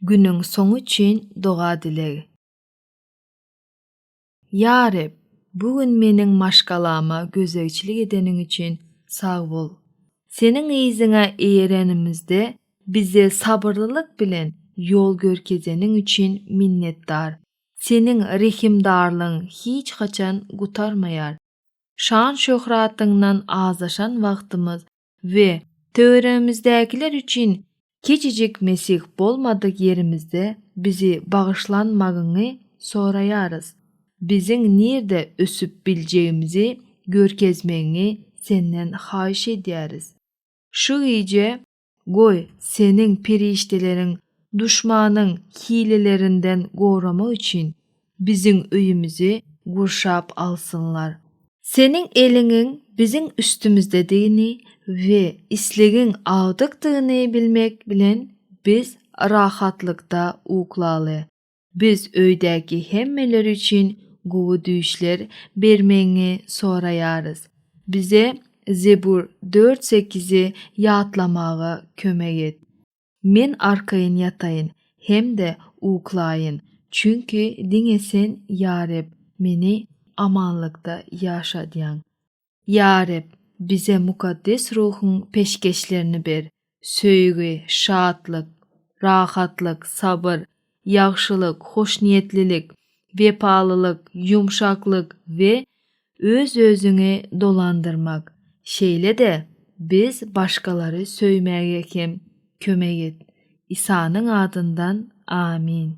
Günüň soňy üçin doga-dileg. Ýa Reb, bu gün meniň maşgalama gözegçilik edeniň üçin sag bol. Seniň yzyňa eýerenimizde bize sabyrlylyk bilen ýol görkezeniň üçin minnetdar. Seniň rehimdarlygyň hiç haçan gutarmaýar. Şan-şöhratyňdan azaşan wagtymyz we töweregimizdäkiler üçin kiçijik Mesih bolmadyk ýerimizde bizi bagyşlanmagyňy soraýarys. Biziň nirde ösüp biljegimizi görkezmegiňi Senden haýyş edýäris. Şu gije, goý, Seniň perişdeleriň duşmanyň hilelerinden goramak üçin Biziň öýümizi gurşap alsynlar. Seniň eliňiň biziň üstümizdedigini we islegiň agdykdygyny bilmek bilen biz rahatlykda uklaly. Biz öýdäki hemmeler üçin gowy düýşler bermegiňi soraýarys. Bize Zebur dört sekizi ýatlamaga kömek et. Men arkaýyn ýataýyn hem-de uklaýyn, çünki diňe Sen, ýa Reb, meni amanlykda ýaşadýaň. Ýa Reb, bize Mukaddes Ruhuň peşgeşlerini ber, söýgi, şatlyk, rahatlyk, sabyr, ýagşylyk, hoşniýetlilik, wepalylyk, ýumşaklyk we öz-özüňi dolandyrmak. Şeýle-de, biz başgalary söýmäge hem kömek et. Isanyň adyndan, amin.